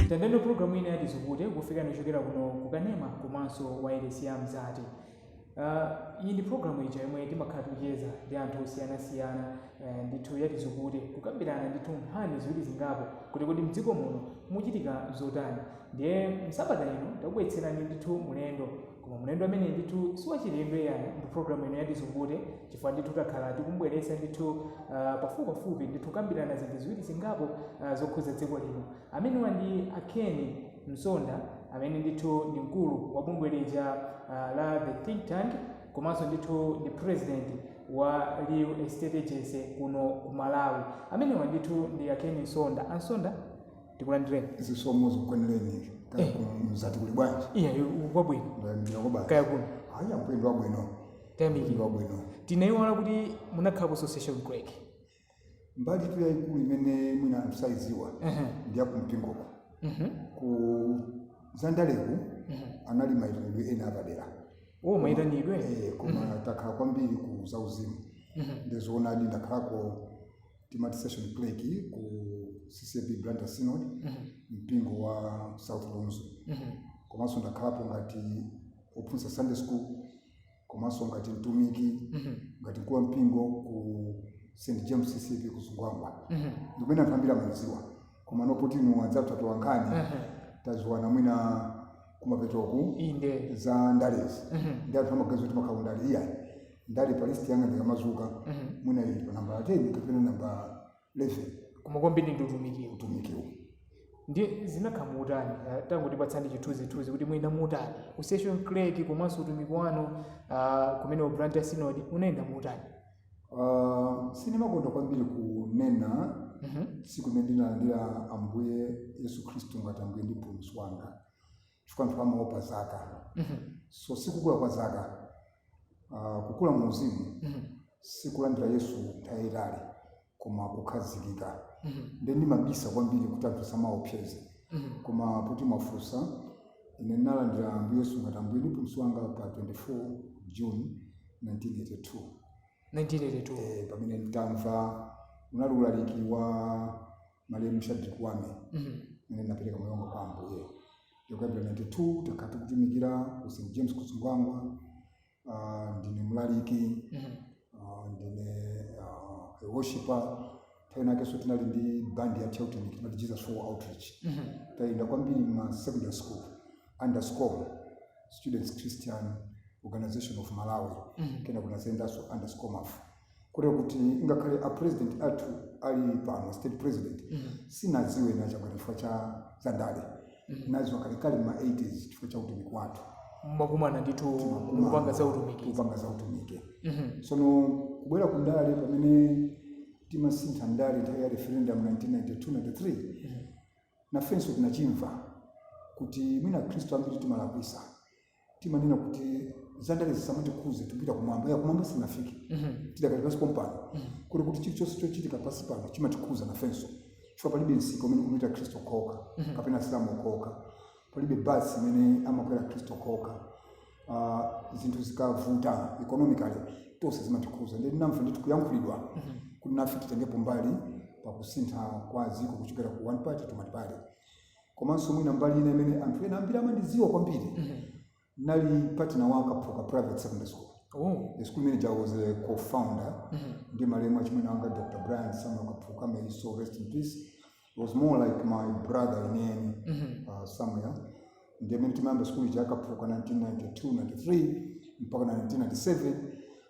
tandendo programu ina ya Tizukute kufika kuchokera kuno kukanema komanso wairesi ya mzati uh, iyi ndi programu ija yomwe timakhala tikucheza ndi anthu osiyanasiyana uh, ndithu ya Tizukute kukambirana ndithu nkhani ziwiri zingapo kuti kodi mdziko muno mukuchitika zotani ndiye msabata ino takubweretserani ndithu mlendo koma mlendo amene ndithu siwachilendo ayi ndi programu ino ya Tizukute chifukwa ndithu takhala tikumbweretsa ndithu uh, pafupipafupi ndithu kukambirana zinthu ziwiri zingapo uh, zokhudza dziko lino amenewa ndi a Ken Msonda amene ndithu ndi mkulu wa bungwe lija uh, la the think tank komanso ndithu ndi president wa real estate agency kuno ku malawi amenewa ndithu ndi a Ken Msonda a Msonda tikulandireni zisomo zikukwanireni ife kaya Eh. kuno mzati kuli bwanji iya kwabwino ndayambira kwa basi kaya kuno ayi ampendo wabwino ampendo tayamikira wabwino tinayiwala kuti munakhalapo session clerk mbalitu yayikulu imene mwina anthu sayidziwa Ehe. ndi yakumpingoko Mhm. ku zandaleku Mhm. anali mayitanidwe ena apadera wo mayitanidwe Eh, koma takhala kwambiri ku zauzimu Mhm. ndizoonadi ndakhalako timati session clerk ku CCAP Blantyre Synod mpingo wa South Lunzu komanso ndakhalapo ngati ophunzitsa Sunday school komanso ngati mtumiki ngati mkulu wa mpingo ku St James CCAP ku Zungwangwa ndimene anthu ambiri amandidziwa komano poti inu anzathu atola nkhani tadziwana mwina kumapetoku inde za ndalezi nde anthu amaganiza kuti timakhala kundale iyayi ndale pa list yanga ndikamadzuka Mhm. mwina ili pa nambala 10 kapena nambala 11 koma kwambiri ndi utumiki utumikiwo ndi zinakhala mutani Ah, tangotipatsaniko chithunzithunzi kuti munayenda mutani ku session clerk komanso utumiki wanu ah, kumeneku Blantyre Synod unayenda mutani Ah, sindimakonda kwambiri kunena Mhm. tsiku limene ndinalandira ambuye yesu khristu ngati ambuye ndi mpulumutsi wanga chifukwa anthu amaopa zaka Mhm. so sikukula kwa zaka uh, kukula mu uzimu Mhm. sikulandira yesu nthawi yayitali koma kukhazikika Mhm. nde ndimabisa kwambiri kuti anthu asamaopsezedwe Mhm. koma poti mwafunsa ine ndinalandira ambuye yesu ngati ambuye ndi mpulumutsi wanga pa 24 june 1982 1982 eh, pamene nditamva unali ulaliki wa malemu Shadrick Wame mm -hmm. napeleka moyo wanga kwa Ambuye kuyambira 92 takhala tikutumikira ku St James ku Zingwangwa uh, ah, ndine mlaliki mm -hmm. uh, ndine uh, ah, worshiper nthawi inakeso tinali ndi bandi ya chautumiki timati Jesus for Outreach mm -hmm. tayenda kwambiri ma secondary school under SCOM Students Christian organization of Malawi mm -hmm. kenako nadzayendaso under SCOM mafu kotero kuti ngakhale a president athu ali pano state president sinadziwe na Chakwera chifukwa cha zandale nadziwa kalekale ma 80s chifukwa cha utumiki wathu timakumana ndithu mukupanga za utumiki kupanga za utumiki Mhm. sono kubwera ku ndale pamene timasintha ndale nthawi ya referendum 1992-93 nafenso tinachimva kuti mwina akhristu ambiri timalakwisa timanena kuti zandale zisamatikhudze tipita kumwamba ya kumwamba sinafike tidakali pansi pompano kotero kuti chilichonse chochitika pansi pano chimatikhudza nafenso chifukwa palibe msika umene kumapita akhristu okhaokha kapena asilamu okhaokha palibe basi imene amakwera akhristu okhaokha Ah, zinthu zikavuta economically tonse zimatikhuza ndinamva ndithu kuyankhulidwa kuti nafe titengepo mbali pakusintha kwa dziko kuchokera ku one party to multi party Komanso mwina mbali ina imene anthu ena ambiri amandidziwa kwambiri mm -hmm. nali partner wa Kaphuka Private Secondary School oh. the school manager was a co-founder mm -hmm. ndi malemu achimwene anga Dr. Brian Samuel Kaphuka may his soul rest in peace He was more like my brother ine ndi mm -hmm. uh, Samuel ndiye mene timayamba school ija Kaphuka 1992 93 mpaka 1997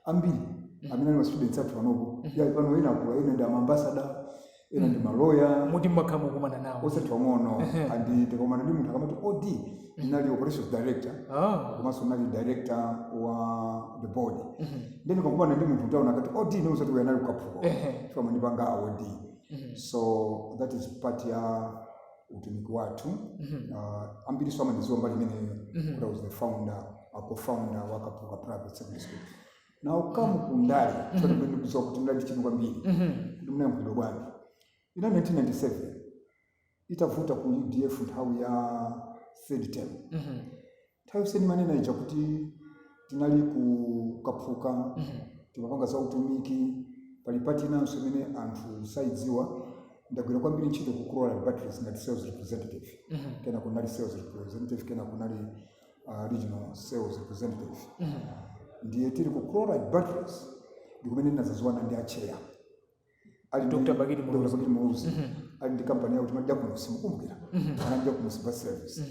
ambiri mm -hmm. amene ali ma students athu panopo mm -hmm. ali pano ena akula ena ndi ma ambassador ena ndi maloya moti mmakhala mukumana nawo osati pang'ono and tikakumana ndi munthu akamati OD ndinali operations director Ah, komanso nali director wa the board then ukakumana ndi munthu utaona akuti OD nde uzati uyu anali ku Kaphuka Ehe. chifukwa amandipanga a OD so that is part ya utumiki wathu uh, ambiriso amandiziwa mbali imeneyo kuti i was the founder a co-founder wa Kaphuka private secondary school now come ku ndale mm -hmm. chona mwenye kuziwa kuti mladi chini kwambiri mm -hmm. kuti mwenye mkudo bwanji in 1997 itavuta ku UDF nthawi ya third term mm -hmm. nthawi ndimanena ija kuti tinali ku Kaphuka mm -hmm. timapanga za utumiki pali part inanso imene anthu saidziwa ndagwira kwambiri ntchito ku Chloride Batteries ngati sales representative mm -hmm. kenako nali sales representative kenako nali uh, regional sales representative ndiye tili ku chloride batteries ndikumene ndinazaziwana ndi acheya ali ndi- Dr. Bakili Muluzi. Dr. Bakili Muluzi ali ndi kampani yawo timati jakunosi mukumbukira ana ndi jakunosi bus service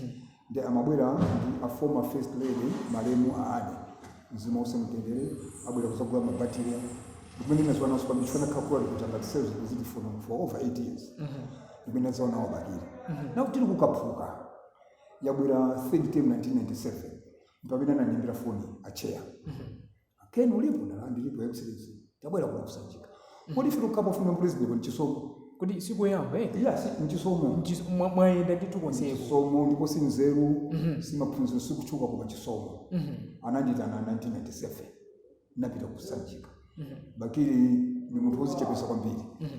ndi amabwera ndi a former first lady malemu a Anne mzimu uuse mtendere abwera kuzagula mabatire ndikumene ndinaziwana nawo kwambiri chifukwa ndinakhala kuti ngati sales representative for, for over 8 years ndikumene ndinaziwana nawo bakili nawo tili ku Kaphuka yabwera third term 1997 mpamene anandiimbira foni acheya ken ulipo ndati ndilipo excellency tabwera kuno ku Sanjika kodi fika kukapa funa president ndi chisomo kuti sikuyamba eh yes n'chisomo Mchis- mwa- mwayenda ndithu konseko chisomo ndipo si nzeru Mhm. si maphunziro si kutchuka koma chisomo Mhm. ananditana 1997 napita ku Sanjika Mhm. bakili ni munthu wozichepesa kwambiri Mhm.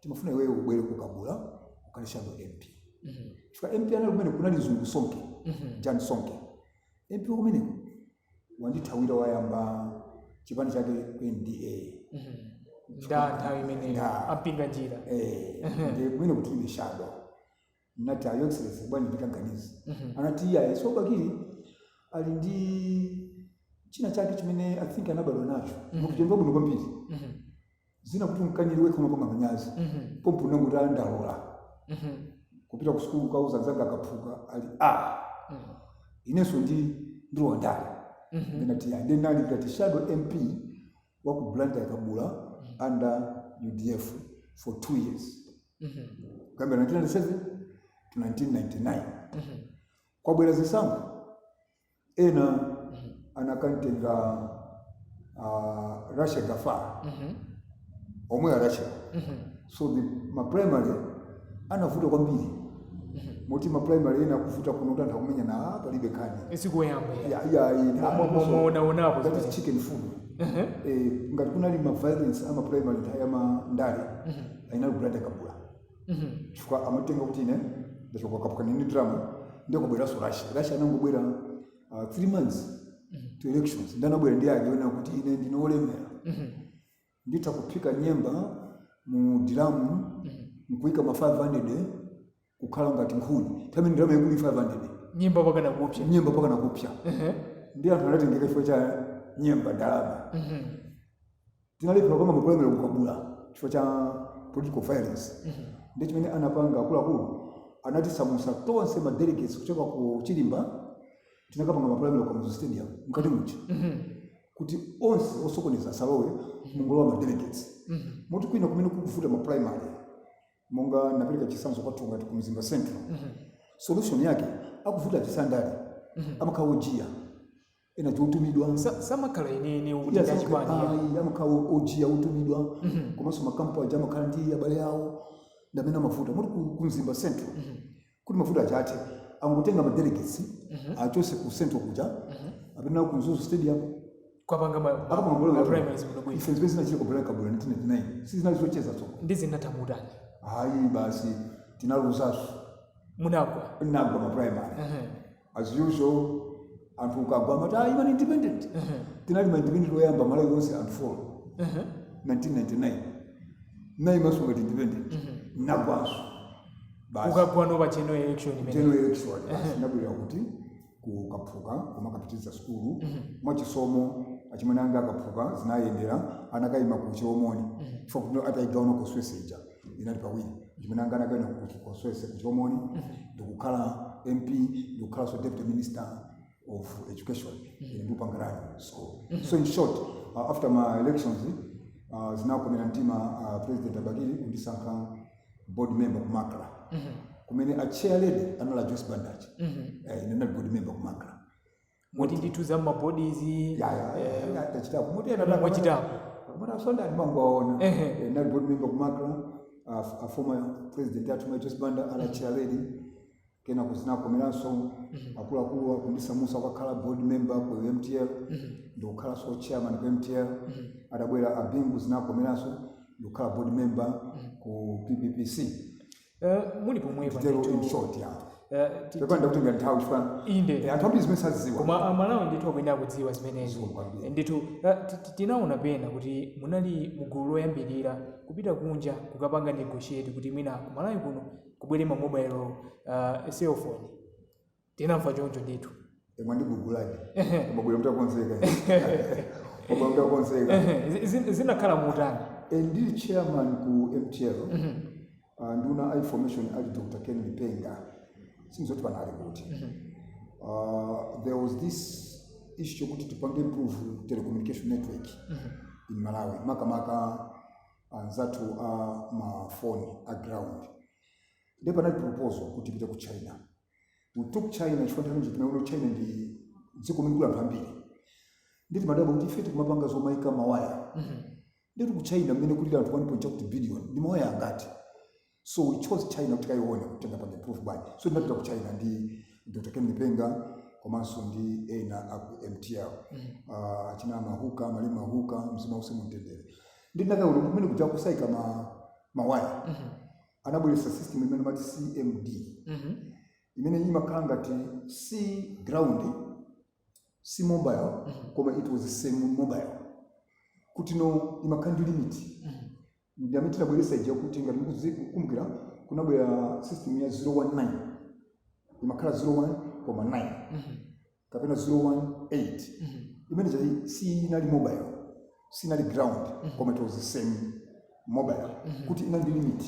timafuna iweyo ubwere ku Kabula ukhale shadow mp chifukwa mp anali kumeneko anali mzungu sonke jan sonke mp kumeneko wandithawira wayamba chipani chake ku nda nda nthawi imeneyo Nda. a Mpinganjira Eh, ndiye kumene kuti ine shadow Ndinati a Your Excellency bwana ndikaganize. Mhm. Anati iyayi so Bakili ali ndi china chake chimene I think anabadwa nacho. Mhm. Mukuchemba bwino kwambiri. Mhm. Zina kuti umkanire wekha umapanga manyazi. Mhm. Pompo unangokuti ah, ndalola. Mhm. Kupita ku sukulu kauza anzanga a Kaphuka ali ah Mhm. inenso ndi ndilowa ndale. Mhm. Ndinati ya ndinali ngati shadow MP wa ku Blantyre Kabula under UDF for two years kuyambira 1997 to 1999 kwabwera zisankho ena anakantenga uh, Rashy Gaffar omwe a Rashy so the maprimary anavuta kwambiri moti maprimary ena akuvuta kuno kuti anthu akumenyana "Ah, palibe nkhani sikuyamba Ya- ya- ya- Mwa- mwa- mwa- mwaonaonapo ngati zimene. chicken food Eh, ngati kunali ma violence ama primary nthawi ya ma ndale inali ku Blantyre Kabula chifukwa amatenga kuti ine ndachoka kwa Kaphuka ndili ndi ndalama ndiye kubweranso Rashy Rashy anangobwera uh, three months to elections ndiye anabwera ndi ake ona kuti ine ndine olemera nditha kuphika nyemba mu diramu nkuika ma 500 kukhala ngati nkhuni nthawi ndalama yaikulu 500 nyemba mpakana kupsa nyemba mpakana kupsa ndiye anthu anatengeka chifukwa cha nyemba ndalama tinalephera kupanga maprimary ku Kabula chifukwa cha political violence ndiye chimene anapanga akuluakulu anatisamusa tonse ma delegates kuchoka ku chilimba tinakapanga ma primary ku Kamuzu stadium mkati muja kuti onse osokoneza asalowe mungolowa ma delegates moti kwina kumene akuvuta ma primary monga ndapereka chisanzo kwathu ngati ku mzimba central solution yake akuvuta chisandale amakhala ojiya ena chotumidwa Sa- samakhala inene Iya, utenga saka- chipani ya. ayi, amakhala ojiya otumidwa komanso makampu aja amakhala ndi abale awo ndi amene amavuta moti ku- ku mzimba central kuti mavuto aja athe angotenga ma delegates Mhm. achose ku central kuja Mhm. apite ku Mzuzu stadium kukapanga ma- ma- akapanga bolo ma yabwino. primaries bwino bwino ife zimene zinachitika ku Blantyre Kabula 1999 sizinali zocheza tsono zinatha motani ayi basi tinaluzanso munagwa ndinagwa ma primary Mhm. as usual anthu ukagwa amati ah, imani independent tinali ma independent oyamba malawi onse and for 1999 ndinaimanso ngati independent ndinagwanso basi ukagwa no pa general election imene general election basi ndinabwerera ku Kentucky kumakapitiriza sukulu mwachisomo achimwene anga a Kaphuka zinayendera anakayima ku Chilomoni chifukwa kuti ataigawa constituency ija inali pawiri achimwene anga anakaima ku constituency ku Chilomoni ndikukhala mp ndikukhalanso deputy minister of education ine ndikupanga run school so in short uh, after my elections uh, zinakomera mtima uh, president a Bakili kundisankha board member ku MACRA kumene a chair lady anali a Joyce Banda eh, ine ndinali board member ku MACRA moti ndithu za mmabodi izi ya ya eh, ine tachita kumene ena Ena mwachitapo. kumuti asonkha ndimangowaona Ehe. Eh, ndinali board member ku MACRA a a former president athu mayi Joyce Banda ali chair lady kenako zinakomeranso akuluakulu kundisamutsa kukakhala board member ku MTL ndikukhalanso chairman ku MTL adabwera a Bingu zinakomeranso ndikukhala board member ku PPPC Eh, muli pomwepo nditero ndithu. in short ya Eh, ti- pepani ndakutengerani nthawi chifukwa Inde. eh, anthu ambiri zimene sazidziwa koma amalawi ndithu akuyenera kudziwa zimenezi Zikomo kwambiri. ndithu eh, ti- ti- tinaona pena kuti munali mugulu loyambirira kupita kunja kukapanga negotiate kuti mwina kumalawi kuno kubwere ma mobile uh, cellphone tinamva choncho ndithu Eh, mwandigugula di Ehe. koma mwabwera mutakonzeka koma mutakonzeka Ehe, zi- zi- zinakhala motani Eh, ndili chairman ku mtl ah, nduna ya information ali dr ken lipenga sindidziwa kuti pano ali kuti Ah, there was this issue yokuti tipange improve telecommunication network in malawi makamaka anzathu a mafoni a ground ndipo panali proposal kuti tipite ku china We took China chifukwa nthawi nje timaona kuti China ndi dziko limene kuli anthu ambiri. Ndiye timadabwa kuti ife tikumapanga zomaika mawaya. Ndiye ku China mmene kuli anthu 1. chakuti billion ndi mawaya angati. So we chose China kuti tikaone kuti tingapanga improve bwanji. So tinapita ku China ndi Dr. Ken Lipenga komanso ndi ena a ku MTL. Ah, achina Mahuka, Malemu Mahuka, mzimu wawo uuse mu mtendere. Ndiye tinakayiona kuti kumene kuja kusaika mawaya. anabweretsa system imene amati cdma Mhm. imene imakhala ngati si ground si mobile Mhm. koma it was semi mobile kuti imakhala ndi limit Mhm. ndi imene tinabweretsa ija kuti ngati mukumbukira kunabwera system ya 019 imakhala 01 koma 9 Mhm. kapena 018 imene siinali mobile sinali ground koma it was semi mobile kuti inali ndi limit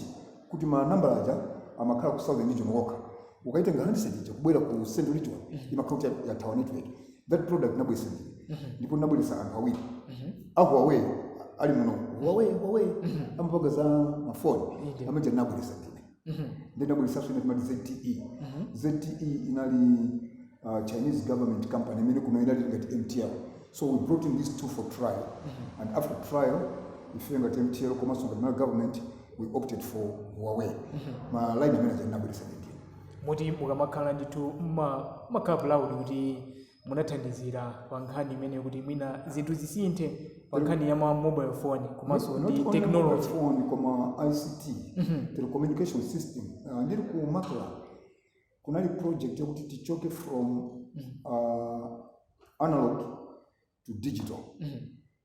kuti ma number aja amakhala ku southern region yokha ukaitenga handset ija kubwera ku central region imakhala kuti ya- yathawa network that product ndinabweretsa ine ndipo ndinabweretsa anthu awiri a Huawei ali muno Huawei Huawei amapanga za mafoni Inde. amene anabweretsa ndine Mhm. then tinabweretsanso ina imati zte Mhm. zte inali uh, chinese government company imene kuno inali ngati mtl so we brought in these two for trial and after trial ife ngati mtl komanso ngati Malawi government we opted for huawei ma line amene aja tinabweretsa ndithu moti mukamakhala ndithu mma- mmakhala proud kuti munathandizira pa nkhani imeneyi kuti mwina zinthu zisinthe pa nkhani ya ma mobile phone komanso Not- not ndi only technology mobile phone koma ict telecommunication system uh, ndili ku Macra kunali project yokuti tichoke from uh, analog to digital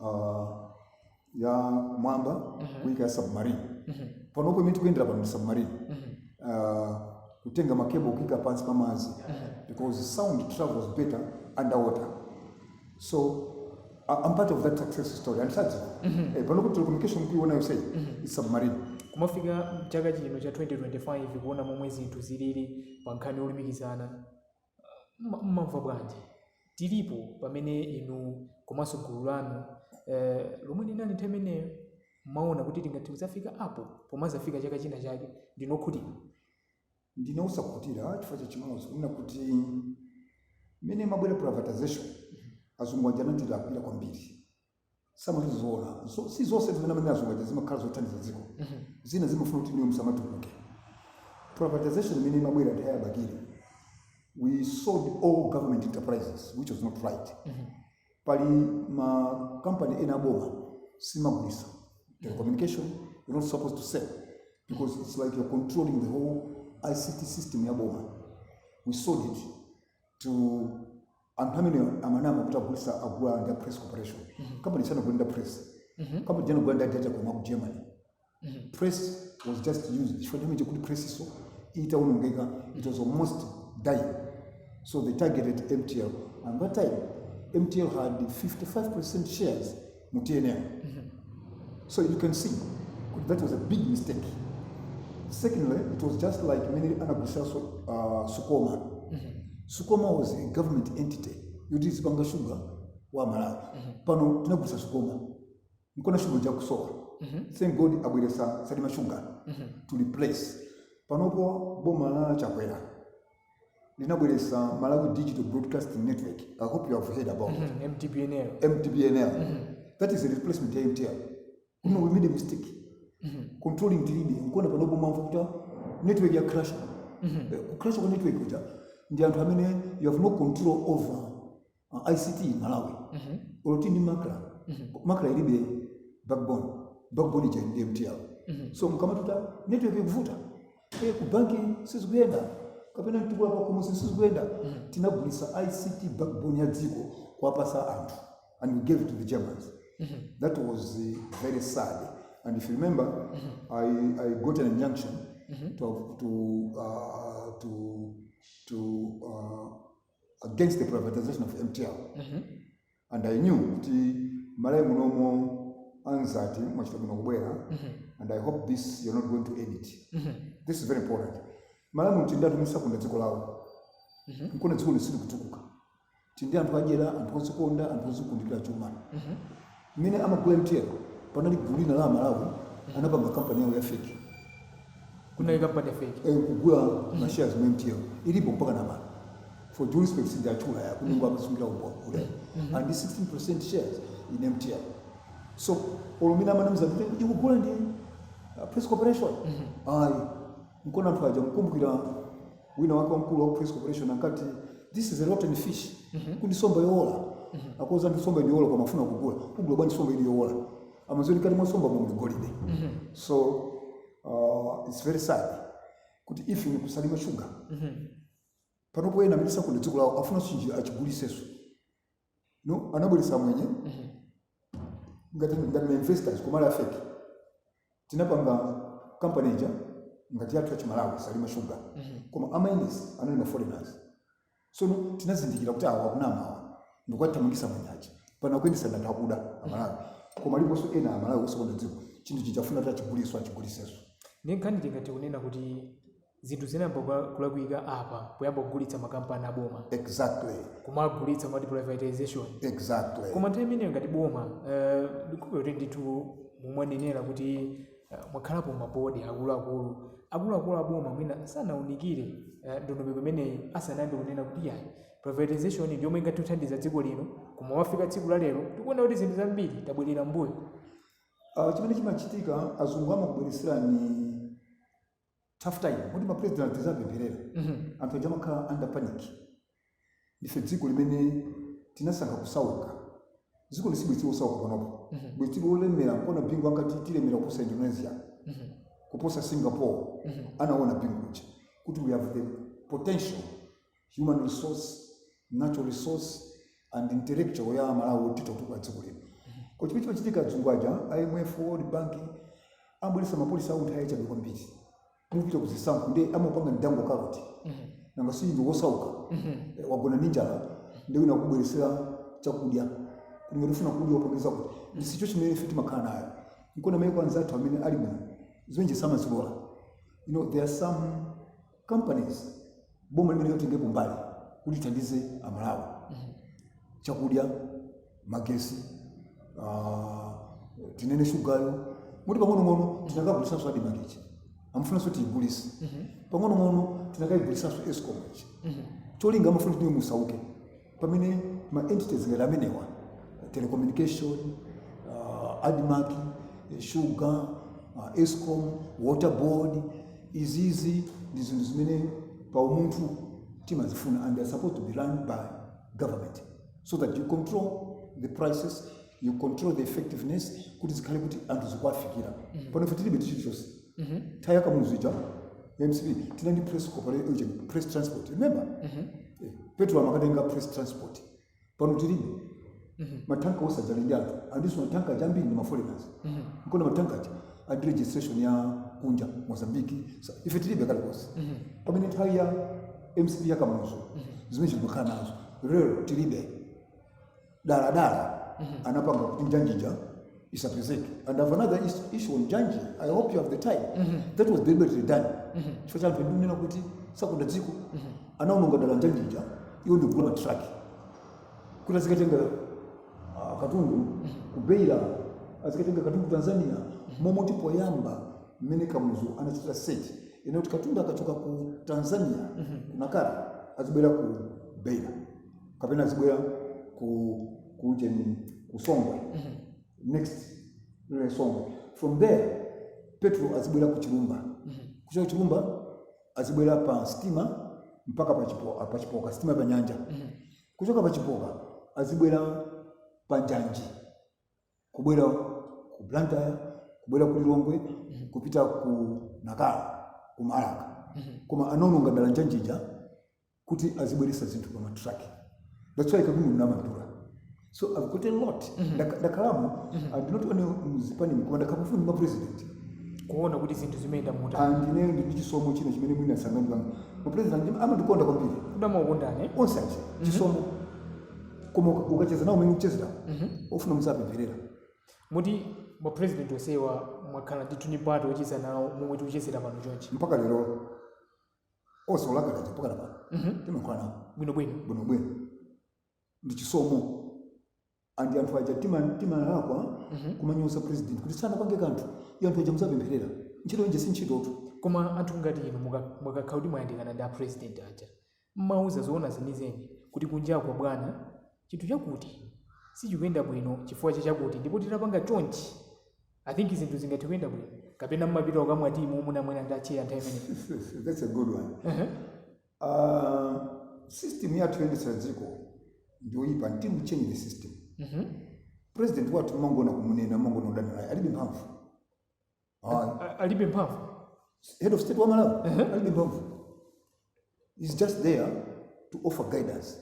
uh, ya mwamba Mhm. kuika ya submarine Mhm. panopo imene tikuyendera pano ndi submarine Mhm. uh, kutenga ma cable kuika pansi pa madzi Mhm. because sound travels better underwater so I- I'm part of that success story and as such Mhm. eh, panopo telecommunication kuiona yonse Mhm. is submarine kumafika chaka chino cha 2025 kuona momwe zinthu zilili pa nkhani yolumikizana mmamva bwanji? Tilipo pamene inu komanso gulu lanu eh, lomwe linali nthawi imeneyo mmaona kuti tingathe kudzafika apo pomazafika chaka china chake ndine okhutira ndine osakhutira chifukwa cha chimodzi kunena kuti mmene imabwera privatization azungu aja anatilakwira kwambiri samati zoona Zo- si zonse zimene amene azungu aja zimakhala zothandiza dziko zina zimafuna kuti inuyo musamatukuke privatization imene inabwera nthawi ya Bakili we sold all government enterprises which was not right pali ma company ena aboma simagulisa telecommunication you're not supposed to sell because it's like you're controlling the whole ict system ya boma we sold it to anthu amene amanama kuti agulisa agula ndi press corporation company sanagule ndi a press company ija anagula ndi a Detecon a ku germany press was just used nthawi imene ija nkuti press so itaonongeka it was almost dying so they targeted mtl and that time mtl had 55 percent shares mu tnm so you can see kuti that was a big mistake secondly it was just like mmene anagulisaso uh, sucoma sucoma was a government entity yoti izipanga shuga wa malawi pano tinagulisa sucoma nkona shuga uja akusowa thank god abweresa salima shuga to replace panopo boma la chakwera linabweretsa malawi digital broadcasting network i hope you have heard about it Mhm, mdbnl mdbnl that is a replacement ya mtl kuno we made a mistake controlling tilibe nkona panopo mumamva kuti network ya crash Eh, kucrash kwa network kuja ndi anthu amene you have no control over uh, ict malawi Mhm. olo tili ndi makra Mhm. makra ilibe backbone backbone ija ndi mtl Mhm. so mkamatuta network ikuvuta e ku banki sizikuyenda kapena mtukula kwa kumusi sizikuyenda tinagulisa ict backbone ya dziko kuwapasa anthu and we gave it to the germans Mhm. that was uh, very sad and if you remember I, i got an injunction to, to, uh, to, to uh, against the privatization of mtl and i knew kuti malawi munomo anzati mwachita bwino kubwera and i hope this you're not going to edit this is very important malawi muno tindi anthu omwe sakonda dziko lawo nkona dzikoli silikutukuka tindi anthu adyera anthu ozikonda anthu ozikundikira chuma Mmene amagula mtl panali gulu lina la amalawi anapanga company yawo ya fake. Kunali company ya fake. Eeh nkugula ma shares mu mtl ilipo mpakana pano for due respect sindiwatchula ya kuti mungu amasungira umboni kuti ali ndi 16% shares in mtl so olo mmene amanamiza kuti ikugula ndi press corporation ayi. Nkona anthu aja mukumbukira wina wake wamkulu wa ku Press Corporation ankati this is a rotten fish kuti somba yowola akuuzani somba ndiyowola koma afuna kugula kugula bwanji somba ili yowola amaziwa kuti mkati mwa somba muli golide so uh, it's very sad kuti even ku salima shuga panopo ena amene sakonda dziko lawo afuna chinthu chija achiguliseso no anabweretsa amwenye Mhm. ngati ngati mainvestors koma ali afeki tinapanga kampani ija ngati yathu yachimalawi salima shuga Mhm. koma amayendesa anali maforeigners sono tinazindikira kuti awa akunama awa ndikuwathamangisa amwenye aja pano akuyendesa ndi anthu akuda amalawi koma aliponso ena amalawi osakonda dziko chinthu chija afuna kuti achiguliso achiguliseso ndi nkhani tingati kunena kuti Zinthu zinayamba kuka- kulakwika apa poyamba kugulitsa makampani aboma Exactly. kumagulitsa mwati privatization Exactly. koma nthawi imeneyo ngati boma eh, ndikupe kuti ndithu mmene mwanenera kuti eh, mwakhalapo mabodi akuluakulu akuluakulu aboma mwina sanaunikire eh, ndondomeko imeneyi asanayambe kunena kuti yayi privatization ndi yomwe ingathe kuthandiza dziko lino koma pofika tsiku la lero tikuona kuti zinthu zambiri tabwerera mbuyo Uh, chimene chimachitika azungu amabweresera tough time moti mapresident anthu tiziwapempherera anthu aja amakhala under panic ndife dziko limene tinasankha kusauka dziko lino sibwenzi tili osauka panopo bwenzi tili olemera nkona bingu ankati tilemera kuposa indonesia kuposa singapore anaona bingu uja kuti we have the potential human resource, natural resource and intellectual ya Malawi yoti titha kutukula dziko lino. Koma chimene chimachitika adzungu aja, IMF, World Bank amabweretsa mapolisi awo nthawi yachabe kwambiri. Mukupita kuzisankho ndi amapanga dangle carrot. Nanga si ndi wosauka eh, wagona ndi njala ndi wina kubweresera chakudya. Kuti ngati ufuna kudya upange zakuti ndiye situation imene ife timakhala nayo. Nkona maiko anzathu amene ali muno zimene zija samazilola. You know there are some companies boma limayenera litengepo mbali kuti lithandize amalawi chakudya magesi ah, tinene shugayo moti pang'onong'ono tinakagulitsanso ADMARC ichi amafunanso tiyigulise pang'onong'ono tinakayigulitsanso escom ichi cholinga amafuna kuti musauke pamene ma entities ngati amenewa telecommunication uh, admarc sugar uh, escom water board izizi ndi zinthu zimene pa umunthu timazifuna and they are supposed to be run by government so that you control the prices you control the effectiveness kuti zikhale kuti anthu zikuwafikira pano ife tilibe tichilichonse nthawi yakamuzu ija mcp tinali press corporation press transport remember Eh, petro amakatenga press transport pano tilibe matanka onse aja ali ndi anthu andinso matanka aja ambiri ndi maforeigners nkona matanka aja ali ndi registration ya kunja mozambique Sa- ife tilibe kalikonse pamene nthawi ya mcp ya kamuzu zimene zija timakhala nazo lero tilibe daladala anapanga kuti njanjija isapezeke and I have another is- issue on njanji i hope you have the time that was deliberately done chifukwa cha anthu ndinena kuti sakonda dziko anaononga dala njanjija iwo ndikugula matraki kuti azikatenga ah, katundu kubeira azikatenga katundu tanzania momoti poyamba mmene kamuzu anachitira set inali yoti katundu akachoka ku tanzania kunalinso azibwera ku beira kapena zibwera ku kuujeni ku Songwe next lile songwe from there petrol azibwera ku chilumba kuchoka chilumba azibwera pa sitima mpaka pa chipoka, pa chipoka sitima pa nyanja kuchoka pa chipoka azibwera pa njanji kubwera ku blantyre kubwera ku lilongwe kupita ku nakala ku Marka koma anononga dala njanjija kuti azibweretsa zinthu pa ma truck that's why kadumu mnamadura so i've got a lot Ndaka- ndakhalamo and not only mzipani mkoma ndakhala pafupi ndi ma president kuona kuti zinthu zimayenda motani and ineyo ndi chisomo china chimene mwina sangandipange ma president amandikonda kwambiri kudamaukondane onse achi chisomo koma uka- ukacheza nawo umene uchezera ofuna muzawapempherera muti ma president onsewa mwakhala ndithu ndi mpata ocheza nawo momwe tikuchezera pano chonchi mpaka lero onse a Lazarowa mpakana pano Mhm. timakhala nawo bwino bwino bwinobwino ndi chisomo and anthu aja tima- timalakwa kumamunyoza president kuti sanapange kanthu iyo anthu aja muziwapempherera ntchito yonija si ntchitotu koma anthu ngati inu muka- mukakhala kuti mwayandikana ndi apresident aja mmawauza zoona zenizeni kuti kunjako bwana chinthu chakuti sichikuyenda bwino chifukwa cha chakuti ndipo titapanga chonchi I think zinthu zingathe kuyenda bwino kapena mmapita kukamwa tea momwe munamwera ndi acheya nthawi imeneyo That's a good one. Ehe. Uh, system yathu yoyendetsera dziko ndiyoyipa until we change the system. Mhm. President wathu timangoona kumunena kumangoona kudana naye alibe mphamvu. Ah, A- alibe mphamvu head of state wa Malawi alibe mphamvu. He's just there to offer guidance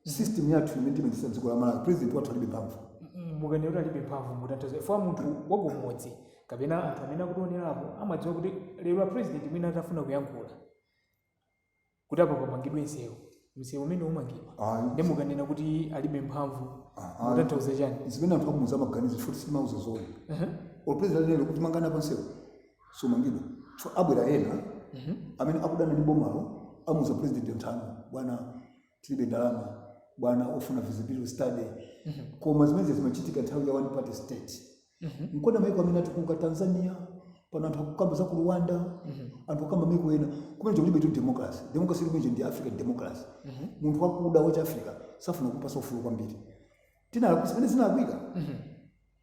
system yathu imene timaendesa dziko la malawi president wathu alibe mphamvu mukanena kuti alibe mphamvu mutanthauza chifukwa munthu wakumudzi kapena anthu amene akutionerapa amadziwa kuti lero a president mwina atafuna kuyankhula kuti apa pamangidwe msewu msewu umenewo umangidwa Ayi. ndi mukanena kuti alibe mphamvu Ah, mutanthauza chani zimene anthu akumudzi amaganiza futi sitimawauza zoona or president anene kuti mangani apa nsewu sumangidwa abwera ena Mhm. amene akudana ndi bomalo amuuza president nthano bwana tilibe ndalama bwana ofunika feasibility study Mhm. koma zimenezi zimachitika nthawi ya one party state Mhm. nkona maiko amene atukuka tanzania pano anthu akukamba za ku rwanda Mhm. anthu akukamba maiko ena kumene chakulibe tu democracy democracy ilimo ija ndi african democracy Mhm. munthu wakuda wachi africa safuna kumpatsa ufulu kwambiri tinalakwisa pamene zinalakwika Mhm.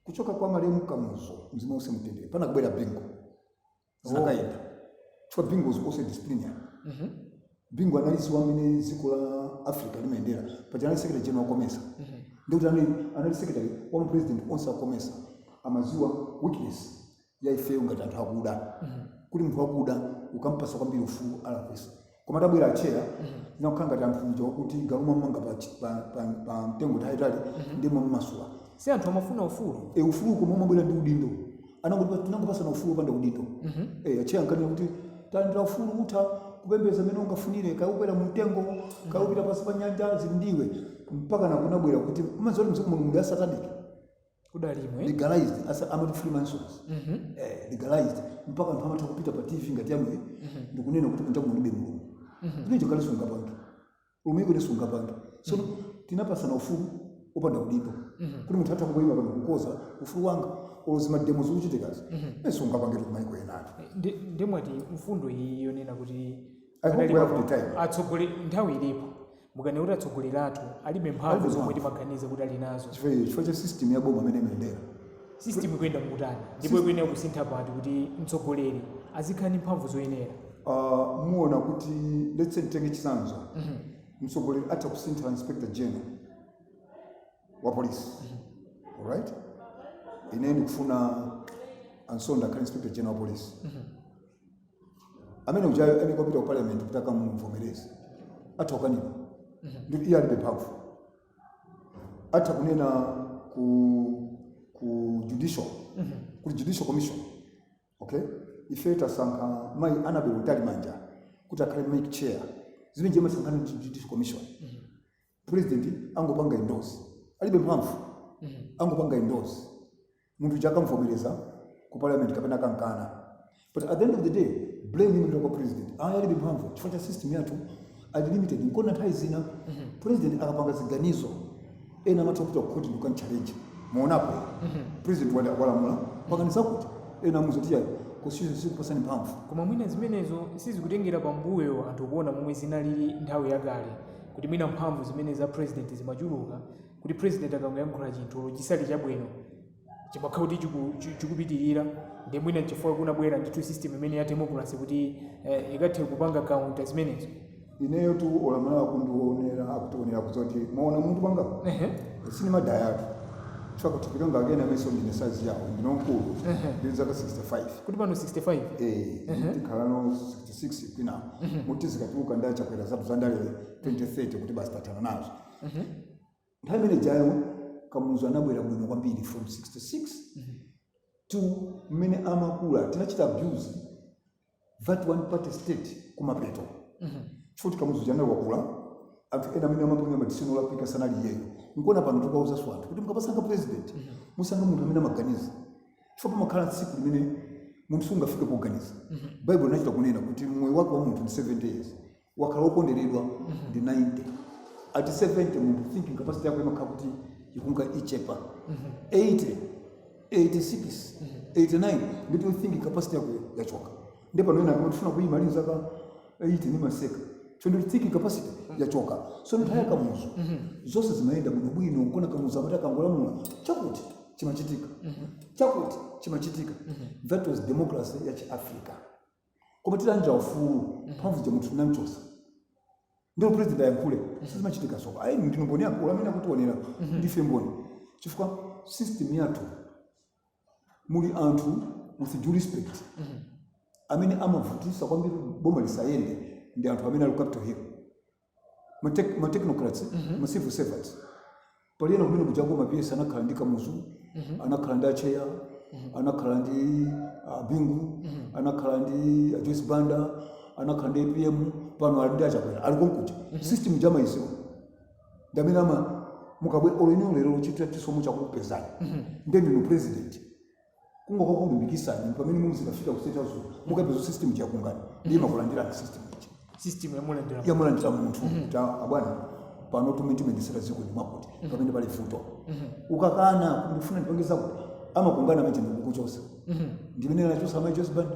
kuchoka kwa malemu kamuzu mzimu uuse mumtendere panabwera bingu zinakayenda chifukwa bingu was also a disciplinarian Mhm. bingu analidziwa mmene dziko la africa limayendera paja anali secretary general wa COMESA ndikuti anali anali secretary wa mapresident onse a COMESA amadziwa weakness ya ifeyo ngati anthu akuda kuti munthu wakuda ukampasa kwambiri ufulu walakwitsa koma tabwera atchera nakukhala ngati anthu nja kuti galu mwamanga pa, chi- pa, pa, pa mtengo tayitali ndiye mwammasula si anthu amafuna ufulu e ufulu koma umabwera ndi udindo Anangotipa- tinangopasana ufulu opanda udindo e atchera nkanena kuti talandira ufulu utha kupembedza mmene ungafunire kaya ukwera mu mtengo kaya upita pansi pa nyanja zili ndi iwe mpaka nakunabwera kuti umadziwa kuti mzimu mulungu ndi asataniki kudali inuyo legalized awa amati freemasons Mhm. eh, legalized mpaka anthu amatha kupita pa tv ngati yanuyi ndikunena kuti kunja kulibe mulungu ndicho chakale sungapange m'maiko ena sungapange so tinapasana ufulu opanda udindo kuti munthu atha kungoyima pano because ufulu wanga olo zima demo zikuchitikazi ne sungapange kumaiko enatu Ndi- ndiye mwati mfundo iyi yonena kuti akadalipo atsogoleri nthawi ilipo mukunena kuti atsogoleri athu alibe mphamvu zomwe timaganiza kuti ali nazo chifukwa cha system ya boma mmene imayendera system ikuyenda motani ndipo ikuyenera kusintha pati kuti mtsogoleri azikhala ndi mphamvu zoyenera uh, muona kuti let's say titenge chitsanzo mm -hmm. mtsogoleri atha kusintha inspector general wa polisi mm -hmm. alright ine ndikufuna a Nsonda akhale inspector general wa polisi mm -hmm. amene ujayo ayenera kupita ku parliament kuti akamumvomereze atha kukanidwa ndiye iye alibe mphamvu atha kunena ku ku judicial kuli judicial commission okay ife tasankha mayi Annabel Mtalimanja kuti akhale MEC chair zimene zija amasankhana ndi judicial commission president angopanga endorse alibe mphamvu angopanga endorse Munthu uja akamvomereza ku parliament kapena akankana. But at the end of the day, blame imapita kwa president. Ayi alibe mphamvu chifukwa cha system yathu ali limited. Nkona nthawi zina president akapanga ziganizo ena amatha kupita ku court ndi kukamchallenge. Mwaonapo president walamula pangani zakuti ena amuuza kuti yayi constitution siikupatsani mphamvu. koma mwina zimenezo sizikutengera pambuyo anthu kuona momwe zinalili nthawi yakale kuti mwina mphamvu zimene za president zimachuluka kuti president akangoyankhula chinthu olo chisakhale chabwino chimakhala kuti chiku- chi- chikupitirira nde mwina chifukwa kunabwera ndithu system imene ya democracy kuti eh, ikathe kupanga counter zimenezo ineyotu olo muma- kundiwonera akutionera kuziti mmaona munthu mpanga Ehe. sindimadayatu chifukwa kuti kupita ngakena meso ndine size yawo ndine wamkulu ndili ndi zaka 65 kuti pano 65 Eh, tikhalano 66 mwina muti zikatuluka ndachakwera zathu zandale 2030 kuti basi tathana nazo nthawi imene ijayo kamuzu anabwera bwino kwambiri from 66 to mmene amakula tinachita abuse that one party state kumapeto chifukwa kamuzu uja anali wakula anthu ena amene amapanga ma decision olakwika sanali iyeyo nkuona pano tikauzaso anthu kuti mukamasankha president musankhe munthu amene amaganiza chifukwa pamakhala tsiku limene munthu sungafike poganiza bible inachita kunena kuti moyo wake wa munthu ndi 70 years wakhala wokonderedwa ndi 90 at 70 munthu thinking capacity yako imakhala kuti ikunka ichepa 80 86 89 ndiyetu thinking capacity yako yachoka nde pano ena akuti afuna kuyima ali ndi zaka 80 ndimaseka so ndi thinking capacity yachoka so nthawi ya kamuzu zonse zimayenda bwinobwino nkuona kamuzu amati akangolamula chakuti chimachitika chakuti chimachitika that was democracy ya chiafrica koma titalandira ufulu mphamvu zija munthu tinamchosa ndi olo president ayankhule sizimachitikanso ayi ndinu mboni yaikulu amene akutionera ndife mboni chifukwa system yathu muli anthu with due respect amene amavutisa kwambiri boma lisayende ndi anthu amene ali ku capital hill ma tech- ma technocrats ma civil servants pali ena kumene kujako ma PS anakhala ndi kamuzu anakhala ndi acheya anakhala ndi a bingu anakhala ndi a joyce banda anakhala ndi apm pano ali ndi achakwera ali konkuja system ija amaidziwa ndi amene amati mukabwera olo inuyo lero chitati chisomo chakupezani nde ndinu president kungokakulumbirisani ndi pamene muzikafika ku state house mukapeza system yakungana ndi imakulandirani system ichi system yamulandira yamulandira munthu kuti "Ah, abwana panotu mmene timayendesera dziko ndi mwakuti pamene pali vuto ukakana ndifuna ndipange zakuti amakungana manje nkukuchosa ndi amene anachosa amai joyce banda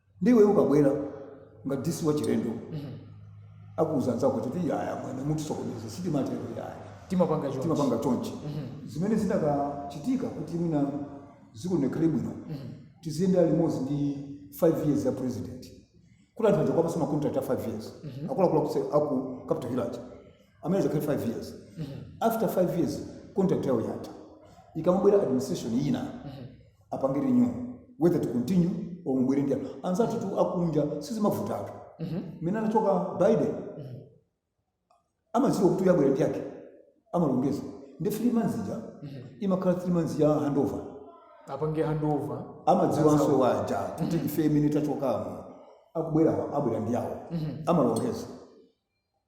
ndi iweyo ukabwera ngati DC wachilendo akuuza anzako kuti iyayi amwene mutisokoneza sitimatero iyayi timapanga chonchi timapanga chonchi zimene zinakachitika kuti mwina dziko likhale bwino tiziyendera limodzi ndi 5 years ya president kuti anthu aja kuwapasa makontrakt a 5 years akuluakulu akuse- aku capital hill aja amene azakhale 5 years after 5 years contract yawo yatha ikamabwera administration ina apange renew whether to continue or mubwere ndi anthu anzathutu akunja sizimavutatu mmene anachoka biden amadziwa kuti uyu abwera ndi yake amalongeza ndi three months ija imakhala three months ya handover apange handover amadziwanso awo aja kuti ife mmene tachokamo akubwerawa abwera ndi yawo amalongeza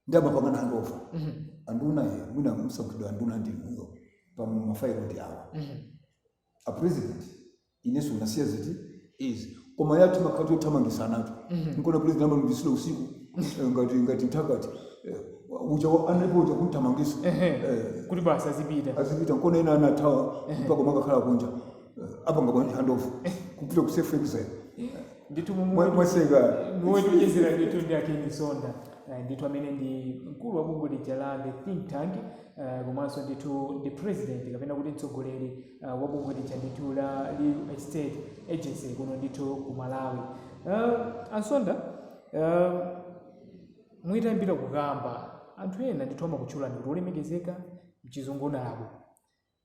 ndi amapangana handover anduna ye mwina mwasankhidwa anduna ndi inuyo apa mafailo ndi awa a president ineso unasiya ziti izi koma yathu makhati yothamangisa anacho nkona president amalungisira usiku eh, ngati ngati mthakati eh, uja wa- analipo uja kumthamangisa Ehe. Eh, kuti basi azipita azipita nkona ena anathawa mpaka makakhala kunja Eh, apanga pa handover kupita ku self exile ndithu Mwa- mumwe mwasegula kumene tikucheza ndithu ndi a ken msonda Eh, ndithu amene ndi mkulu wa bungwe lija la the think tank Uh, komanso ndithu ndi president kapena kuti mtsogoleri uh, wabungwe lija ndithu la real estate agency kuno ndithu ku malawi uh, a msonda uh, mwina tiyambire kukamba anthu ena ndithu amakutchulani kuti olemekezeka mchizungu honorable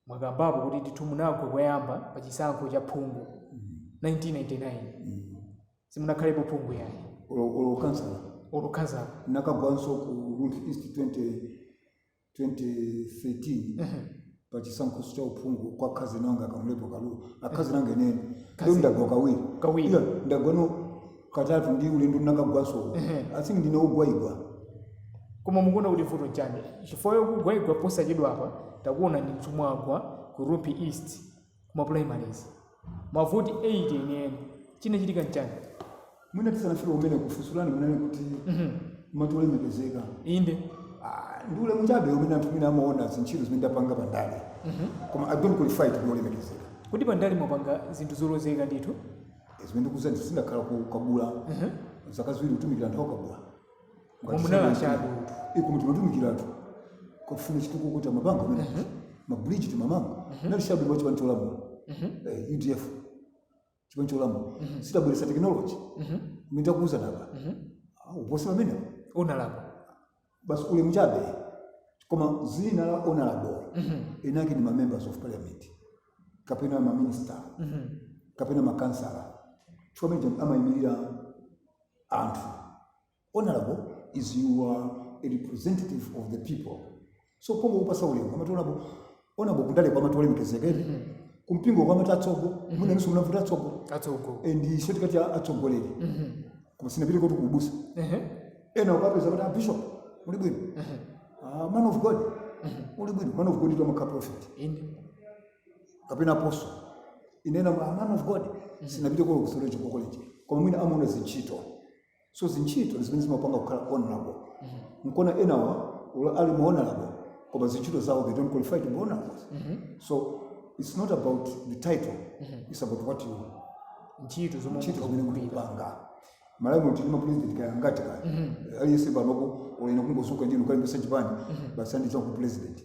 mwakambapo kuti ndithu munagwa koyamba pa chisankho cha uphungu 1999 simunakhalepo phungu yayi Olo- olo khansala olo khansala nakagwanso ku rumphi east 20 2013 pa chisankho cha uphungu kwa akhazeni anga kamlepo kalua akhazeni anga enieni Khazeni. lero ndagwa kawiri Kawiri. Iyayi, ndagwano katatu ndi ulendo ndinakagwanso uko Ehe. i think ndine wogwaigwa koma mukuona kuti vuto nchani chifukwa yokugwaigwa posachedwa apa takuonaninso mwagwa ku rumphi east kuma primaries mavoti 8 enieni chinachitika nchani mwina tisanafike kumeneko funso lanu kunena kuti amati olemekezeka inde Ah, ndi ulemu chabe umene anthu mwina amaona zintchito zimene ndapanga pandale koma i don't qualify to be olemekezeka kuti pandale mwapanga zinthu zolozeka ndithu zimene ndikuuzani si ndakhala ku kabula zaka ziwiri kutumikira anthu akabula Koma munali achabe utu. eh koma timatumikira anthu akafuna chitukuko timapanga amene mabridge timamanga nali shadow wa chipani cholamula Eh, udf chipani cholamula sitabweresa tekinoloji nditakuuzani apa kuposa pamenepo honorable basi ulemu chabe koma dzina la honorable eni ake ndi mamembers of parliament kapena maminista kapena makansala amene amayimirira anthu honorable is you are a representative of the people so pongokupasa ulemu amati honorable honorable kundale ko amati olemekezeka kumpingo ko amati atsogo muna nusu muna vuta atsogo atsogo ndi short cut ya atsogoleri koma sinapite kuti ku ubusa Ehe. ena ukapeza kuti abishop uli bwino Ah, man of god uli bwino man of god ndi amakhala prophet inde kapena apostle inena ma man of god sinapite olo ku theological college koma mwina amaona zintchito so zintchito zimene zimapanga kukhala honorable nkona enawa olo ali ma honorable koma zintchito zawo they don't qualify to be honorables so it's not about the title it's about what you ntchito zomwe ntchito munthu zimene akugwira. mukupanga malawi mu tili ndi mapresident kaya ngati kaya aliyense panopo olo ine kungozuka ndi kukalembesa chipani basi anditcha kuti president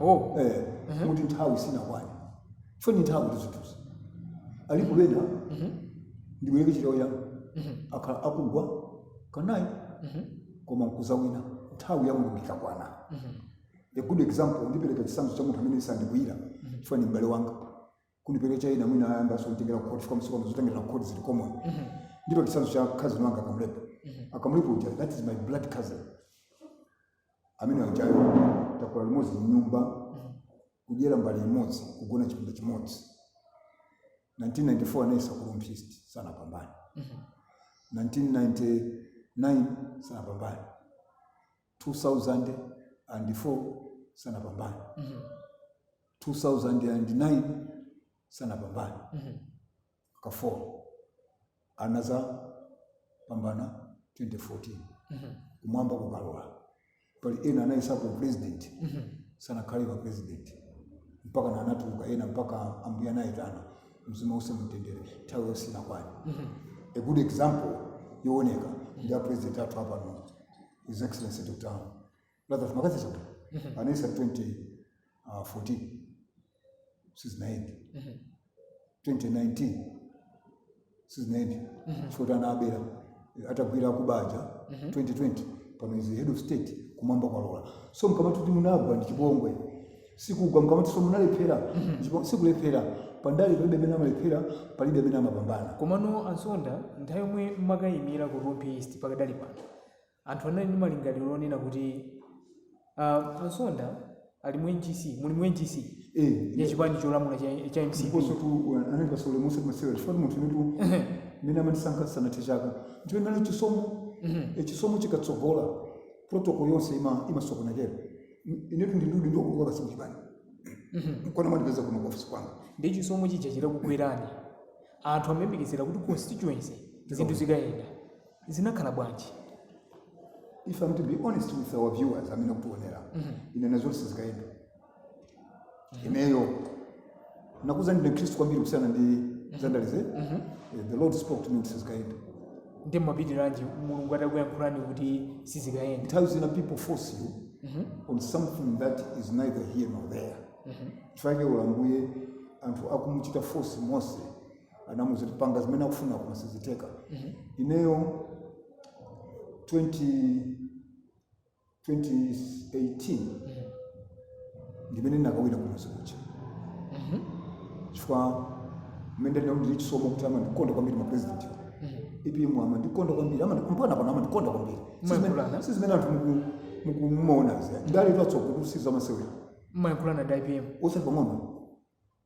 oh eh kuti nthawi sinakwane chifukwa ni nthawitu zinthuzi alipo bena ndibwereke chitawo chanu akhala akugwa kanayi koma nkuzawina nthawi ya mulungu ikakwana a good example ndipereka chisanzo cha munthu amene sandikwiyira chifukwa ni m'bale wanga kungopereka china mwina ayambanso kunditengera kukhoti chifukwa masiku ano zotengera kukhoti zili common ndipo chitsanzo cha cousin wanga a Kamlepo a Kamlepo uja that is my blood cousin amene ujayo takula limodzi mnyumba kudyera mbale imodzi kugona chipinda chimodzi 1994 anayesa ku Rumphi East sanapambane 1999 sanapambane 2004 sanapambane Mhm. 2009 sanapambane Mhm. ka 4 anazapambana 2014 Mhm. kumwamba kukalola pali ena anayesapo president Mhm. sanakhale a president mpaka na anatuluka ena mpaka ambuye anawayitana mzimu uuse mumtendere nthawi yawo sinakwane Mhm. a good example yooneka ndi a president athu apano His Excellency Dr. Lazarus McCarthy Chakwera mm-hmm. anayesa 2014 sizinayende 2019 sizinayende chifukwa mm-hmm. anabera atagwira kuba kuja 2020 mm-hmm. pano is head of state kumwamba kwalola so mkamati kuti munagwa ndi chipongwe sikugwa mkamati so munalephera mm-hmm. sikulephera pandale palibe amene amalephera palibe amene amapambana komano a Msonda nthawi yomwe mmakayimira ku Rumphi East pakadali pano anthu anali ndi malingaliro onena kuti uh, a Msonda ali mu ngc muli mu ngc Eh, ya chipani cholamula cha, cha mcp ndiponsotu anali pasole musi kumasewera chifukwa munthu inetu mmene amandisankha sanathe chaka ndipo imene chisomo eh, chisomo chikatsogola protocol yonse ima- imasokonekera inetu ndindudi ndiokulowa basi mchipani nkona mwandipeza kuno ku ofisi kwanga ndiye chisomo chija chitakugwerani anthu amayembekezera kuti constituency zinthu zikayenda zinakhala bwanji? if I'm to be honest with our viewers amene akutionera ine ndinaziwa kuti sizikayenda ineyo ndakuuzani ndine khristu kwambiri kusiyana ndi zandalezi Eh, the lord spoke to me kuti sizikayenda ndiye mmapitiranji mulungu atakuyankhulani kuti sizikayenda nthawi zina people force you on something that is neither here nor there chifukwa chake ola ambuye anthu akumuchita force mose anamuuza kuti panga zimene akufuna koma sizitheka ineyo 20 2018 ndimene ndinakawina kumwezi kucha chifukwa mmene ndinali ndili chisomo kuti amandikonda kwambiri mapresident apm amandikonda kwambiri amandi- mpaka pano amandikonda kwambiri Si zimene- Mwayankhulana? si zimene anthu muku- mukumaonazi ndale atsogo sizamasewera mmayankhulana ndi apm osati pang'ono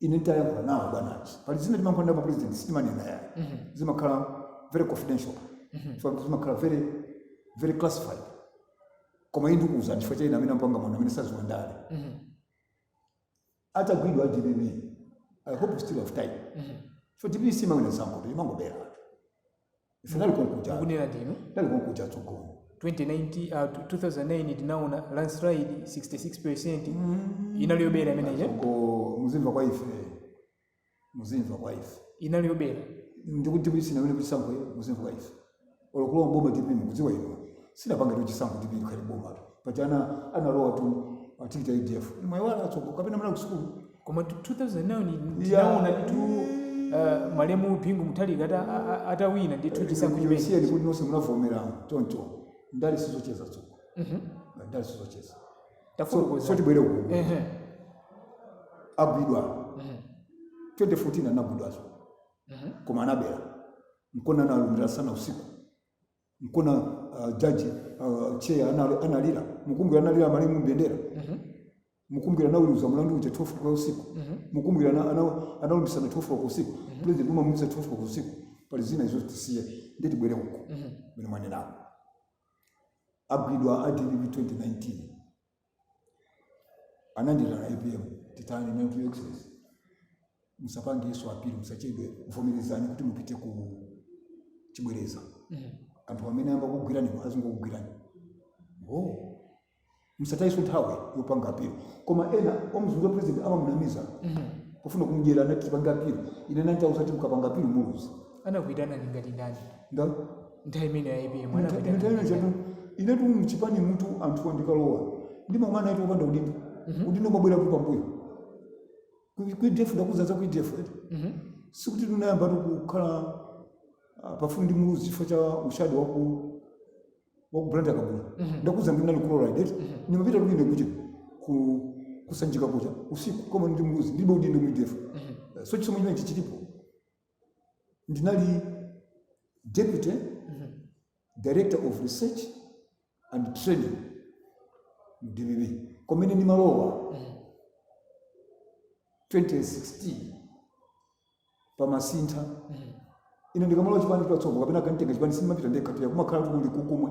ine ndayankhula nawo bwana achi pali zina timayankhula ndi mapresident sitimanena yayi zimakhala very confidential so zimakhala very very classified koma izi ndikuuzani chifukwa cha ine amene ampanga mwana amene saziwa ndale atagwidwa adpp i hope we still have time so dpp simawina chisankho imangobera ife tinali konkuja mukunena ndinu ndinali konkuja tsogolo 2019 uh, 2009 tinaona landslide 66% inali yobera imeneyo tsogolo muzimva kwa ife muzimva kwa ife inali yobera ndikuti dpp sinawineko chisankho muzimva kwa ife olo kulowa mboma dpp mukudziwa inu sinapange tu chisankho dpp ikhale boma tu paja ana analowa tu pa tikiti ya udf mwaiwala atsogo kapena munali kusukulu koma tu- 2009 ndi- tinaona ndithu uh, malemu bingu mutharika ata- a- a- atawina ndithu chisankho chimene chija ndikuti nonse munavomerana choncho ndale sizocheza tsogo Mhm. ndale sizocheza so tafotokoza tibwere uku Ehe. agwidwa Mhm. 2014 anagwidwazo Mhm. koma anabera mkona analumbisana usiku mkona uh, jaji uh, cheya anali- analira mukumbukira analira malemu mbendera mukumbukira anaweruza mlandu uja 12 kwa usiku mukumbukira ana- ana- analumbisana 12 kwa usiku president umamulumbisa 12 kwa usiku pali zina izo tisiye nde tibwere uko mmene mwanenawo agwidwa a dpp 2019 anandiitana apm titani nati your excellency musapangeso apilo musachedwe vomerezani kuti mupite ku chibwereza anthu amene amba kugwirani azingokugwirani oh musataiso nthawi yopanga apilo koma ena omuzungulira president amamunamiza kufuna kumdyera anati tipange apilo ine ndinawauza ti mukapanga apilo muluza anakuitanani ngati ndani nda nthawi imeneyo apm Mta- anapita mthawi ina chatu inetu mchipanimutu anthu andikalowa ndimang'ana ati opanda udindo udindo umabwera kuti pambuyo ku udf ndakuuza za ku udf eti Mhm. sikuti tinayamba tu kukhala ah, pafupi ndi muluzi chifukwa cha ushadi waku waku blantyre kabula ndakuuza ndinali chloride eti ndimapita kuti ine kuja ku kusanjika kuja usiku kukomana ndi muluzi ndibe udindo ku udf so chisomo chimene chilipo ndinali deputy director of research and training mu dpp komene ndimalowa 2016 pamasintha ine ndikamalowa chipani chipatsogo kapena akanditenga chipani simapita ndekha pita kumakhala kuli kukumwe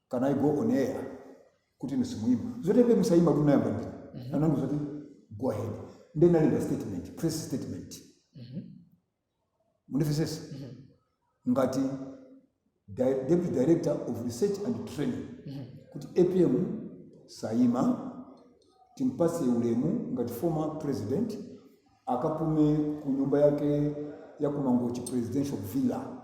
can i go on air kuti inu simuyima zoti apm sayima kuti unayamba ndine anandiuza kuti go ahead nde nalemba statement press statement mundimvesese ngati di- deputy director of research and training kuti apm sayima timpase ulemu ngati former president akapume ku nyumba yake ya kumangochi presidential villa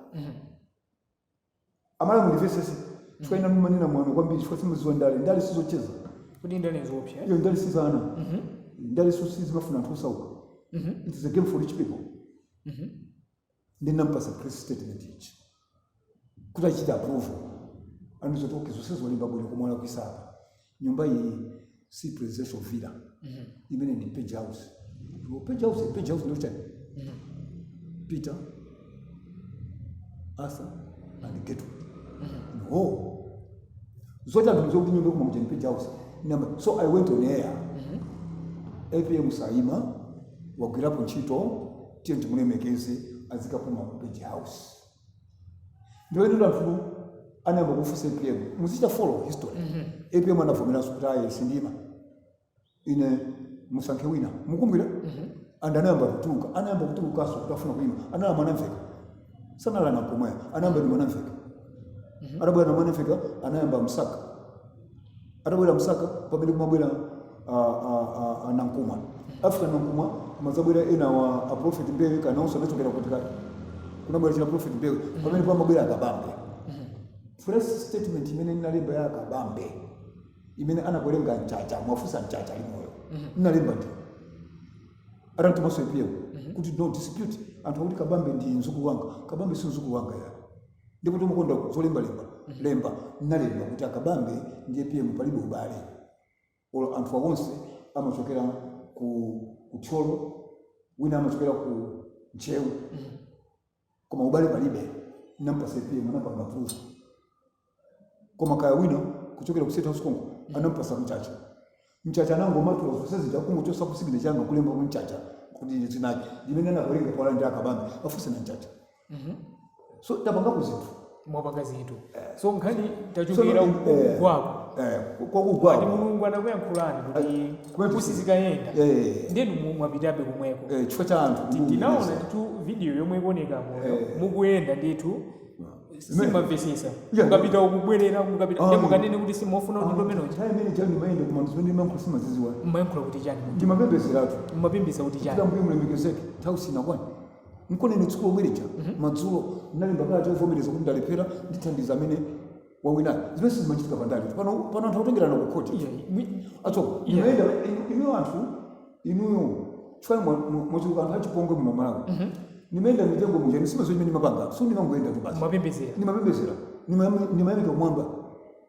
amalawi mundimvesese chifukwa ina mumanena mwano kwambiri chifukwa simuziwa ndale ndale sizocheza kuti ndale nzoopsa eh? iyo ndale si za ana Mhm. ndalenso sizimafuna anthu osauka Mhm. it is a game for rich people Mhm. ndinampasa press statement ichi kuti achite approval anandiuza kuti ok zonsezo walemba bwino koma walakwisa apa nyumba iyi si presidential villa imeneyi ndi page house Ndipo page house page house ndiye kuti chani peter arthur and getu no zote anthu zokuti nyumba koma ujeni page house so i went on air apm saima wagwirapo ntchito tiye timulemekeze azikapuma ku page house ndiye ndiye anthu anayamba kufunsa apm muzichita follow history apm anavomeranso kuti ayi sindiima ine musankhe wina mukukumbukira and anayamba kutuluka anayamba kutulukanso kuti afuna kuyima anali mwanamvekha sanali a nankhumwa anayamba ndi mwanamvekha atabwera a mwanamvekha anayamba msaka atabwera msaka pamene kumabwera ah, ah, ah, ah, nankhumwa after nankhumwa kumadzabwera ena awa a prophet mbewe kaya nawonso anachokera kuti kaya kunabwera china prophet mbewe pamene pamabwera akabambe press statement imene ndinalemba ya akabambe imene anakalengeza mchacha muwafunse mchacha ali moyo ndinalemba ndine atanditumanso apm kuti no dispute anthu akuti kabambe ndi mzukulu wanga kabambe si mzukulu wanga ya ndipotu ndimakonda zolembalemba lemba nalemba kuti akabambe ndi apm palibe ubale olo anthu awonse amachokera ku thyolo wina amachokera ku ntcheu koma ubale palibe nampasa apm anapanga approve koma kaya wina kuchokera ku state house konko anampasa mchacha Mchacha anangomatula zonse zija kungochosa signature yanga kulemba Mchacha kuti ndi dzina lake limene anakuwerenga kwa ndi akabambe afunse na Mchacha. Mhm. So tapangako zinthu. Mwapanga zinthu. Eh. So nkhani tachukira so, uko eh, kwako. Eh, kwa kugwa. Ndi Mulungu anakuyankhulani kuti sizikayenda. Eh. Ndiye mwapitabe kumweko. Eh, chifukwa cha anthu. Tinaona ti video yomwe ikuoneka inuyo eh. mukuyenda ndithu simumamvetsetsa Yeah. mukapita nkubwerera mukapita Ah. nde mukamanena kuti simufuna kuti ndimomwe muja nthawi imene chani mayenda koma zimene mmayankhula sitimaziziwa mmayankhula kuti chani ndimapembezeratu mmapembeza kuti chani Ambuye mulemekezeke nthawi sinakwane nkona ine tsiku lomwelija madzulo ndinalemba kalata yovomereza kuti ndalephera ndithandiza amene wawinayo zimene sizimachitika pandale pano pano anthu akutengerana ku khoti Iya, mwi- atso Yeah. imayenda inuyo anthu inuyo chifukwa mwachuluka anthu achipongwe muno Malawi mhm. nimayenda m'mitengo muja nizimene nimapanga so nimangoyendatu basi nimapembezera nimayamika kumwamba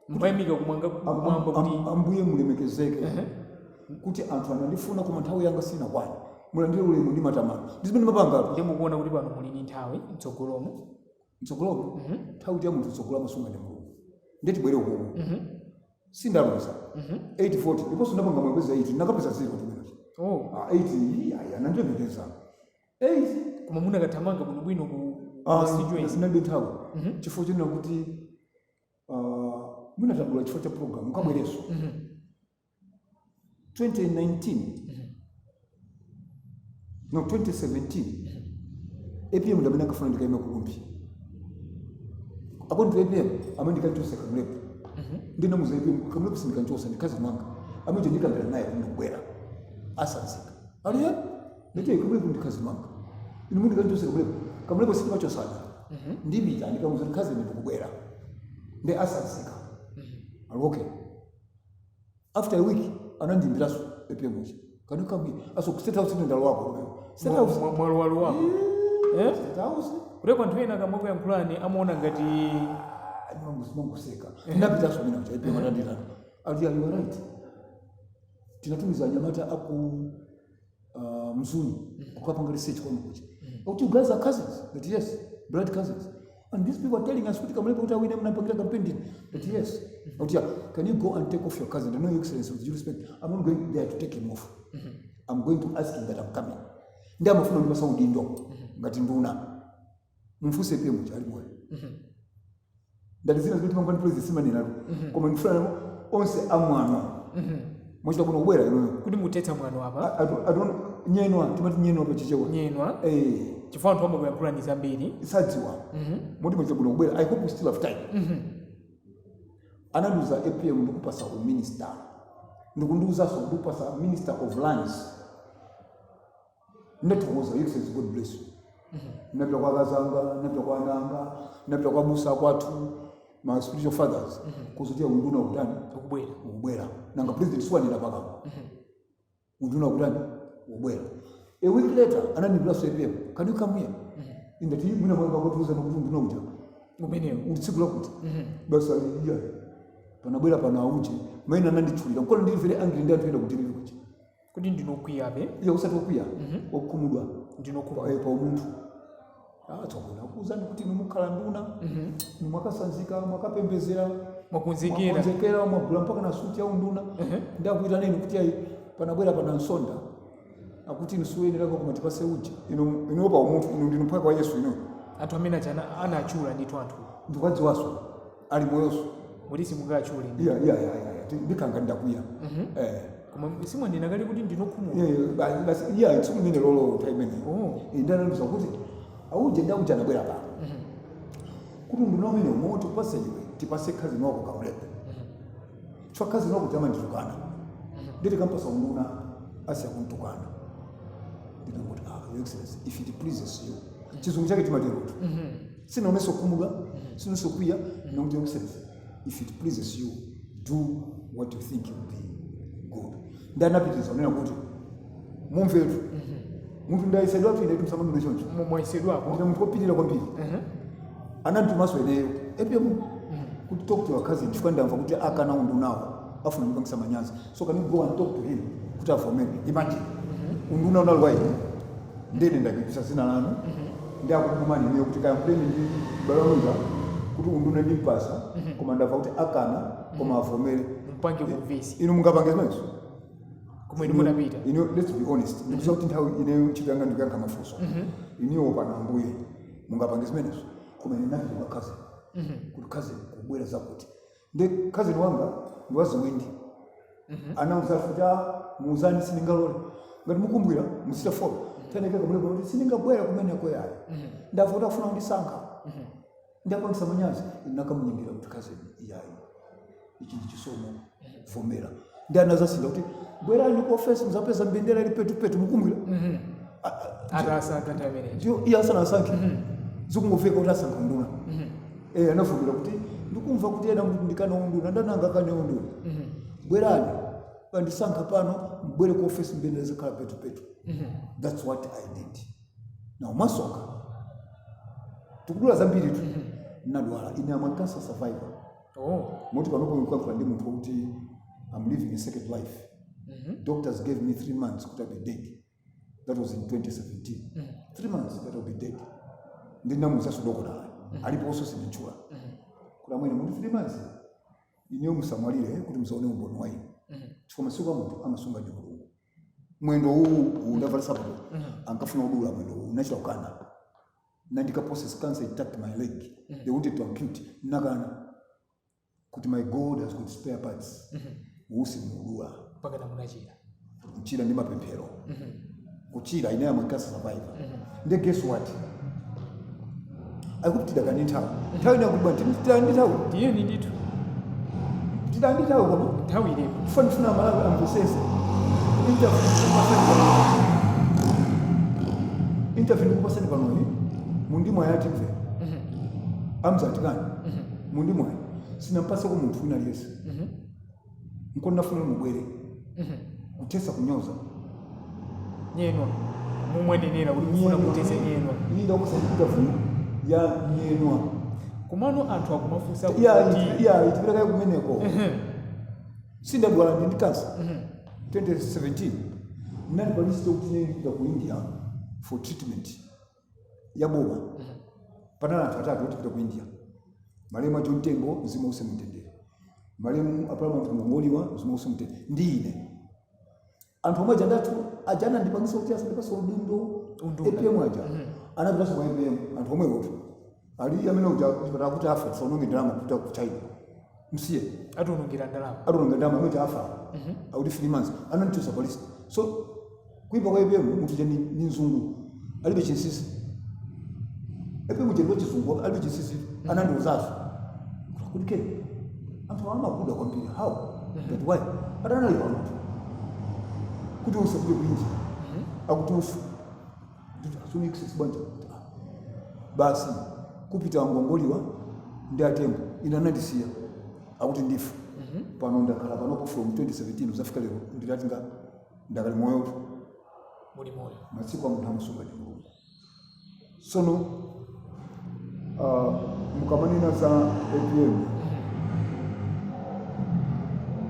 nimayamika kumwamba kuti ambuye mulemekezeke mhm. kuti anthu anandifuna koma nthawi yanga sinakwane mulandire ulemu ndi matamando ndizimene nimapanga nde mukuona kuti pano muli ni nthawi mtsogolomo mtsogolomo nthawi ndi ya munthu tsogolo amasunga ndi mulungu ndiye tibwere ukuku sindapeza 840 ndiponso ndapanga mwembeza 8 ndakapeza zero tu mmenemo oh 8 iya iya anandilemekeza 8 koma munakathamanga bwinobwino ku constituency ninalibe nthawi chifukwa chonena kuti ah, mwina tagula chifukwa cha program mukabwereso 2019 no 2017 apm ndamene ankafuna ndikaime ku Rumphi akuti apm amene ndikanchose Kamlepo ndinamuza apm Kamlepo sindikanchosa ndikazi mwanga amene ndikakambirane naye ndibwera ndizatsanzika aliye ndite Kamlepo ndikazi mwanga inu mukuti kanchose Kamlepo Kamlepo sitimachosana ndipita ndikamuza ndikazi ndikubwera ndi asanzika ali okay after a week anandiimbiranso apm ankandifunaso ku state house ine ndalowako state house Mwa- mwalo- mwalowako Eh? state house kuti anthu ena akamakuyankhulani amaona ngati mukungoseka ndapitaso mina kuti apm ananditu ati you are right tinatumiza anyamata aku uh, mzuni ukapanga research kwanu kuja kuti you guys are cousins that yes blood cousins and these people are telling us kuti kamlepo kuti awine mnapangira campaign ndini that yes kuti yeah, can you go and take off your cousin I know your excellency with due respect i'm not going there to take him off i'm going to ask him that i'm coming ndi amafuna ndipasa udindo ngati nduna mumfunse apm poti ali moyo ndati zina zimene timakambana ndi pulezi sitimanenatu koma ndifuna onse amwano mwachita kuno kubwera inuyo kuti muthetse mwano apa adon nyenwa timati nyenwa pa chichewa nyenwa Eh, chifukwa anthu amakuyankhulani zambiri osadziwa moti mwachita kuno kubwera i hope we still have time anandiuza apm ndikupasa uminister ndikundiuzanso ndikupasa minister of lands ndathokoza your excellency god bless you napita kwa akazanga napita kwa ananga napita kwa abusa kwathu ma spiritual fathers kuwauza kuti unduna ukutani ukubwera ubwera nanga president siwanena pakamwa unduna ukutani ubwera a week later anandiimbiraso apm can you come here ingati mwina akukatiuzano kuti unduna uja umenewo uli tsiku lakuti basi iya panabwera pano auje maina ananditchulira nkona ndiri very angry ndi anthu ena kuti ndiri kuti kodi ndinu okwiyabe iyayi osati okwiya okhumudwa ndinu pa okhumudwa eh, pa umunthu Ah, tsopano akuuzani kuti inu mukhala nduna inu mwakatsanzika mwakapembezera mwakonzekera mwakonzekera mwagula mpaka na suti ya unduna nde akuitanani inu kuti ayi panabwera pano msonda akuti inu siwoyenera koma tipase uja inu inuyo pa umunthu inu ndinu mphwake wa yesu inu anthu amene achana anatchula ndithu anthu ndikuwadziwaso ali moyoso kuti simungatchule iya iya iya iya Ti- ndikanga ndakwiya eh koma simwanena kale kuti ndinu okhumudwa Eh, basi basi iya tsiku limenelolo nthawi imene Oh. nde anandiuza kuti auje ndi auje anabwera pano kuti unduna umene umo tikupase iwe tipase cousin wako kamlepo chifukwa cousin wako amanditukana nde tikampasa unduna asiya kuntukana ndinangoti ah your excellency if it pleases you chizungu chake timatero kuti sinaonese kukhumudwa sinaonese kukwiya ndinangoti your excellency if it pleases you do what you think will be good nde anapitiza kunena kuti mumvetu munthu ndayesedwatu inetu musamandione choncho Mu- mwayesedwapo kuti munthu opirira kwambiri Ehe. ananditumaso ineyo apm kuti talk to your cousin chifukwa ndamva kuti akana undunawo afuna ndipangisa manyazi so can you go and talk to him kuti avomere imagine unduna unali wa ine ndine ndapitisa dzina lanu nde akutumani inuyo kuti kayankhuleni ndi mbale wanga kuti unduna ndimpasa koma ndava kuti akana koma avomere mpange kumvesi inu mungapange zimenezo kumwe ndi munapita inu let's be honest ndikudziwa kuti nthawi ineyo ntchito yanga ndikuyankha mafunso inuyo pana ambuye mungapange zimenezo koma ine ndinapita kwa cousin kuti cousin kubwera zakuti ndi cousin wanga ndi waziwindi anauza kuti a muuzeni sindingalole ngati mukumbukira muchita follow teneke kamlepo kuti sindingabwera kumeneko yayo ndamva kuti afuna kundisankha ndiwapangisa manyazi nakamunyengerera kuti cousin iyayi ichi ndi chisomo vomera ndi anazasintha kuti bwerani ku ofesi muzapeza mbendera ili petupetu mukumbukira atasankha ndi amene ndiyo iye asanasankhe zikungomveka kuti asankha unduna eh anavomera kuti ndikumva kuti ena akuti ndikana unduna ndani angakane unduna bwerani andisankha pano mubwere ku ofesi mbendera zikhala petupetu that's what i did now masoka tikudula zambiritu nadwala ine am a cancer survivor oh. moti panopo mukuyankhula ndi munthu wokuti am living a second life Mhm. doctors gave me three months kuti i'll be dead that was in 2017 Mhm. three months that i'll be dead ndinamuzaso dokotala aliponso sinditchula Mhm. kuti amwene mwati three months ineyo musamwalire kuti musaone umboni wa ine Mhm. chifukwa masiku a munthu amasunga ndi mulungu mwendo uwu uwu ndavala nsapato Mhm. ankafuna udula mwendo uwu ndinachita kukana nandikaposa cancer attacked my leg they wanted to ampute nakana kuti my god has got spare parts uwu simudula mpaka Ah munachira kuchira ndi mapemphero kuchira ine am a cancer survivor nde guess what akuti pita kanthawi nthawi ndakuba nditani nthawi tiyeni ndithu tiyeni ndithu koma nthawi ilipo ndikufuna amalawi amvesese interview ndikupasani panoyi mundimva yati mve amzatikani mundimva sindinampaseko munthu wina aliyense nko ndinafuna inu mubwere Mhm. kuthetsa kunyoza nyenyeswa momwe munenera kuti mufuna kuthetsa nyenyeswa ine ndakusaitika vuno ya nyenyeswa kumano anthu akumafunsa kuti iyayi tipitakaye kumeneko Mhm. sinditadwala ine ndi kansa Mhm. 2017 ndinali pa listi yokuti ndipite ku india for treatment ya boma panali anthu atatu otipita ku india malemu a john tembo mzimu wawo uuse mu mtendere malemu a paramount ngolongoliwa mzimu wawo uuse mu mtendere ndi ine anthu omwe aja ndati aja anandipangisa kuti asandipase udindo Unduna. apm aja anapitanso kwa apm anthu omwewotu Ali amene uja chipatala chikuti afa tisaononge ndalama kupita ku China. Msiye Ationongera ndalama. ationongera ndalama amene afa. Akuti three months anandichosa pa listi. So kuipa kwa APM munthu uja ndi ndi nzungu. Alibe chinsisi. APM uja ndi wachizungu alibe chinsisi anandiuzazo. Kuti Ken anthu amakuda kwambiri how that why adandiuza mtu kuti usafike ku India akuti ufe basi kupita a ngolongoliwa ndi atembo ine anandisiya akuti ndife pano ndakhala panopo from 2017 kudzafika lero ndilati nga ndakali moyotu muli moyo masiku a munthu amasunga ndi mulungu sono uh, mukamanena za apm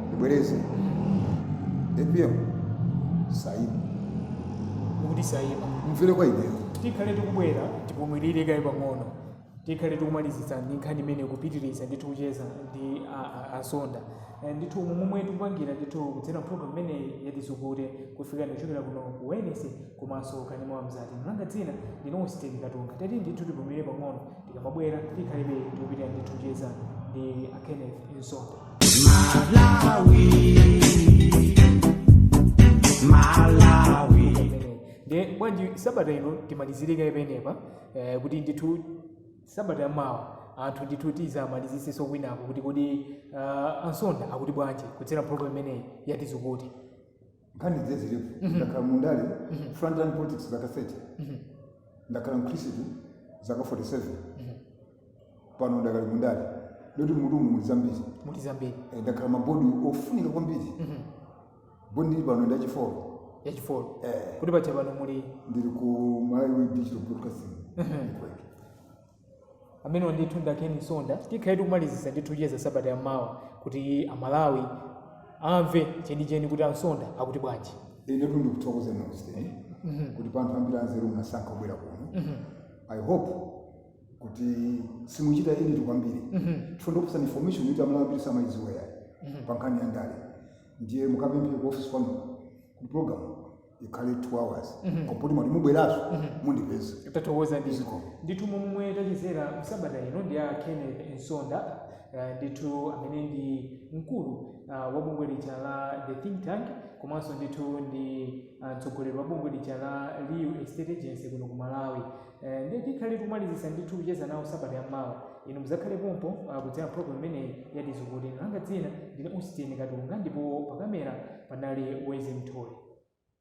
ndibwereze apm sayima mukuti sayima mvere kwa ineyo tikhale tikubwera tipumilire kaye pang'ono tikhale tikumalizitsa ndi nkhani imene kupitiriza ndithu kucheza ndi a- a- asonda Eh, ndithu momwe tikupangira ndithu kudzera program imeneyi yatizukute kukufikani kuchokera kuno ku wenesi komanso kanema wa mzati langa dzina ndine austin katunga tati ndithu tipumire pang'ono tikamabwera tikhalebe tikupitira ndithu kucheza ndi a kenneth msonda imeneyi ndiye bwanji sabata ino timalizire kaye pamenepa eh, kuti ndithu sabata yamawa anthu ndithu tizamaliziseso kwinako kuti kodi uh, a msonda akuti bwanji kudzera program imeneyi ya tizukute nkhani ndiye zilipo Mhm. ndakhala mundale Mhm. frontline politics zaka 30 Mhm. ndakhala mkhristu zaka 47 Mhm. pano ndakali mundale moti mmutumu muli zambiri muli zambiri Eh, ndakhala mmabodi ofunika kwambiri Mhm. bodi ndili pano ndi yachifolo yachifolo eh, kuti pacha pano muli ndili ku malawi digital broadcasting Mhm. network amenewo ndithu ndi a ken msonda tikhale tikumalizisa ndithu kucheza sabata yammawa kuti amalawi amve chenicheni kuti a msonda akuti bwanji inetu ndikuthokoza nonse kuti pa anthu ambiri anzeru munasankha kubwera kuno i hope kuti simuchita edit kwambiri chifukwa ndikupatsani information yoti amalawi ambiri samayidziwa yayi pa nkhani ya ndale ndiye mukapemphe ku office kwanu kuti program ikhale 2 hours Mhm. koma poti mwati mubweraso Mhm. mundipeza tathokoza ndithu Zikomo. ndithu momwe tachezera msabata ino ndi a kenneth msonda eh, ndithu amene ndi mkulu ah, wa bungwe lija la the think tank komanso ndithu ndi ah, mtsogoleri wa bungwe lija la real estate agency kuno ku malawi Eh, ndiye tikhale tikumalizisa ndithu kucheza nawo sabata ya mawa inu muzakhale pompo ah, kudzera program imeneyi ya tizukute langa dzina ndine austin katunga ndipo pakamera panali wezi mthole